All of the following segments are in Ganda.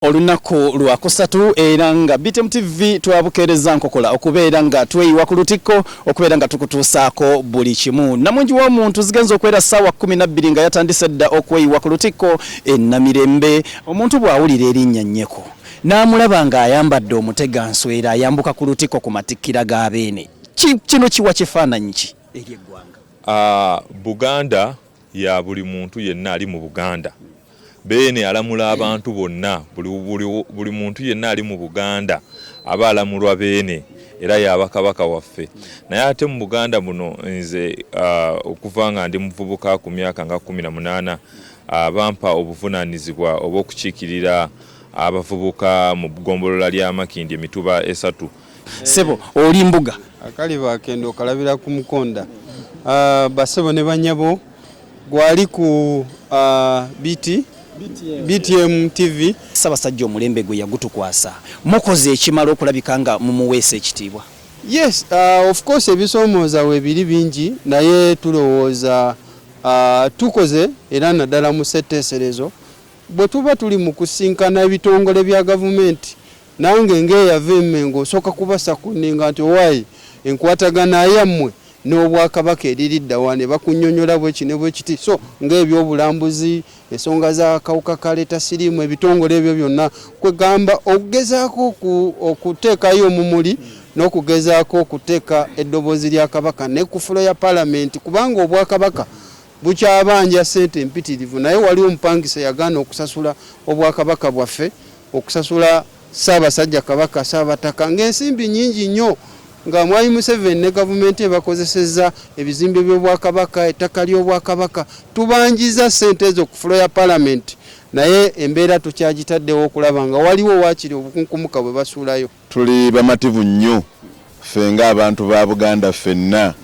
Olunnaku lwakusatu era nga BTM TV twabukeerezza nkokola okubeera nga tweyiwa ku lutikko okubeera nga tukutuusaako buli kimu. Namungi w'omuntu zigenze okuwera ssaawa kkumi nabbiri nga yatandise dda okweyiwa ku lutikko e Namirembe. Omuntu bw'awulira erinnya Nyeko n'amulaba ng'ayambadde omuteganswera ayambuka ku lutikko ku matikkira ga Beene, kino kiwa kifaananyi ki eri eggwanga? Buganda. ya buli muntu yenna ali mu Buganda. Beene alamula abantu bonna, buli muntu yenna ali mu Buganda aba alamulwa Beene era yaaba Kabaka waffe. Naye ate mu Buganda muno nze ah, okuva nga ndi muvubuka ku myaka nga kkumi na munaana ah, bampa obuvunaanyizibwa obw'okukiikirira abavubuka mu ggombolola lya Makindye mituba esatu. Sebo oli mbuga. Akali bakenda okalabira ku mukonda. Uh, basebo ne banyabo gwali ku uh, BT BTM, BTM TV. Sabasajja omulembe gwe yagutukwasa. Mukoze ekimala okulabika nga mumuweesa ekitiibwa. Yes, uh, of course ebisomooza we biri bingi naye tulowooza uh, tukoze era naddala mu setteeserezo bwe tuba tuli mu kusinkana ebitongole bya gavumenti Nange nga eyava e Mmengo osooka kubasa kunninga nti owaaye enkwatagana yammwe n'Obwakabaka eri lidda wa? Ne bakunnyonnyola bwe ki ne bwe kiti so nga eby'obulambuzi, ensonga z'akawuka ka leeta siriimu, ebitongole ebyo byonna kwe gamba okugezaako okuteekayo omumuli n'okugezaako okuteeka eddoboozi lya Kabaka ne ku ffulo ya Palamenti kubanga Obwakabaka Bukya abanja ssente mpitirivu naye waliwo omupangisa eyagaana okusasula Obwakabaka bwaffe, okusasula Ssaabasajja Kabaka, Ssaabataka ng'ensimbi nnyingi nnyo nga Mwami Museveni ne gavumenti ebakozesezza ebizimbe by'Obwakabaka, ettaka ly'Obwakabaka. Tubanjizza ssente ezo ku fulo ya Palamenti naye embeera tukyagitaddewo okulaba nga waliwo waakiri obukunkumuka bwe basuulayo. Tuli bamativu nnyo ffe nga abantu ba Buganda ffenna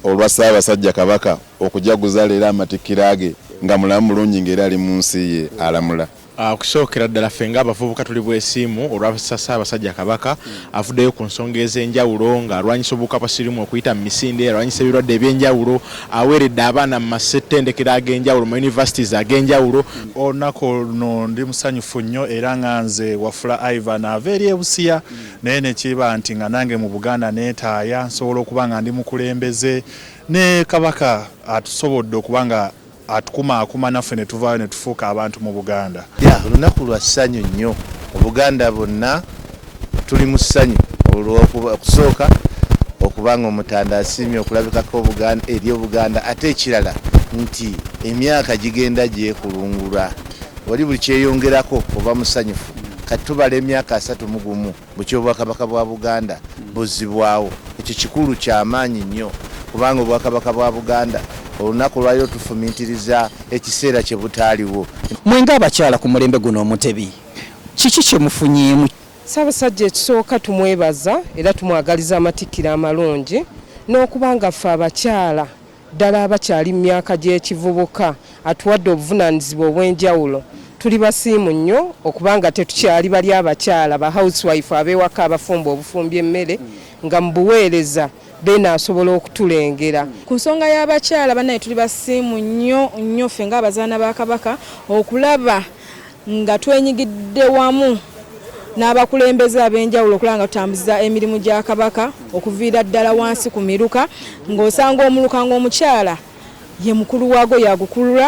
olwa Ssaabasajja Kabaka okujaguza leero amatikkira ge nga mulamu bulungi nga era ali mu nsi ye alamula. Okusookera ddala ffe nga abavubuka tuli bwesiimu olwa Ssaabasajja Kabaka avuddeyo ku nsonga ez'enjawulo nga alwanyisa obuwuka bwa sirimu okuyita mu misinde, alwanyisa ebirwadde eby'enjawulo, aweeredde abaana mu masettendekero ag'enjawulo mu universities ag'enjawulo. Olunaku luno ndi musanyufu nnyo era nga nze Wafula Ivan ava eri e Busia naye ne kiba nti nga nange mu Buganda neetaaya nsobola okuba nga ndi mukulembeze ne Kabaka atusobodde okuba nga atukumaakuma naffe ne tuvaayo ne tufuuka abantu mu Buganda. Ya lunaku lwa ssanyu nnyo mu Buganda bonna. Tuli mu ssanyu olw'okusooka okuba ng'Omutanda asiimye okulabikako eri Obuganda ate ekirala nti emyaka gigenda gyekulungula oli buli kyeyongerako oba musanyufu kati tubala emyaka asatu mu gumu bukya Obwakabaka bwa Buganda buzzibwawo ekyo kikulu kya maanyi nnyo kubanga Obwakabaka bwa Buganda olunaku olwaliro tufumintiriza ekiseera kye butaaliwo. Mwe ng'abakyala ku mulembe guno Omutebi Kiki kye mufunyeemu? Ssaabasajja ekisooka tumwebaza era tumwagaliza amatikkira amalungi n'okuba nga ffe abakyala ddala abakyali mu myaka gy'ekivubuka atuwadde obuvunaanyizibwa obw'enjawulo tuli basiimu nnyo okuba nga tetukyali bali abakyala ba housewife ab'ewaka abafumba obufumbi emmere nga mu buweereza beena asobola okutulengera ku nsonga y'abakyala banaye tuli basiimu nnyo nnyo ffe ng'abazaana ba Kabaka okulaba nga twenyigidde wamu n'abakulembeze ab'enjawulo okulaba nga tutambuza emirimu gya Kabaka okuviira ddala wansi ku miruka ng'osanga omuluka ng'omukyala ye mukulu waago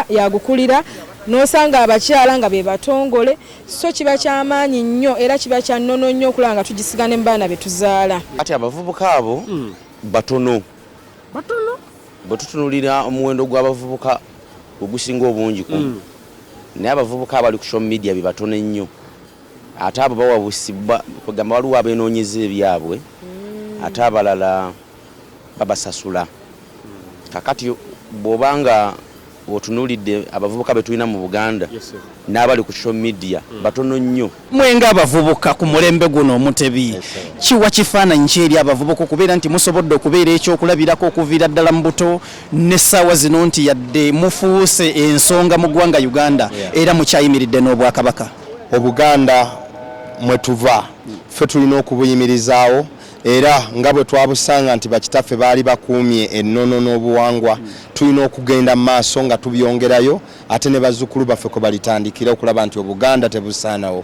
yagukulira n'osanga abakyala nga be batongole so kiba kyamaanyi nnyo era kiba kya nnono nnyo okulaba nga tugisiga ne mu baana be tuzaala kati abavubuka abo hmm. batono bwe tutunulira omuwendo gw'abavubuka ogusinga obungi ku hmm. Naye abavubuka abali ku social media bebatono ennyo ate abo bawabusibwa kwegamba waliwo abenoonyeza ebyabwe ate abalala babasasula kakati bwoba nga otunulidde abavubuka betulina mu Buganda n'abali ku social media batono nnyo. mwe nga abavubuka ku mulembe guno omutebi kiwa kifaananyi ki eri abavubuka okubeera nti musobodde okubeera ekyokulabirako okuviira ddala mu buto n'essaawa zino nti yadde mufuuse ensonga mu ggwanga uganda era mukyayimiridde n'obwakabaka obuganda mwe tuva ffe tulina okubuyimirizaawo era nga bwe twabusanga nti bakitaffe baali bakuumye ennono n'obuwangwa tulina okugenda mu maaso nga tubyongerayo ate ne bazzukulu baffe kwe balitandikira okulaba nti obuganda tebusaanawo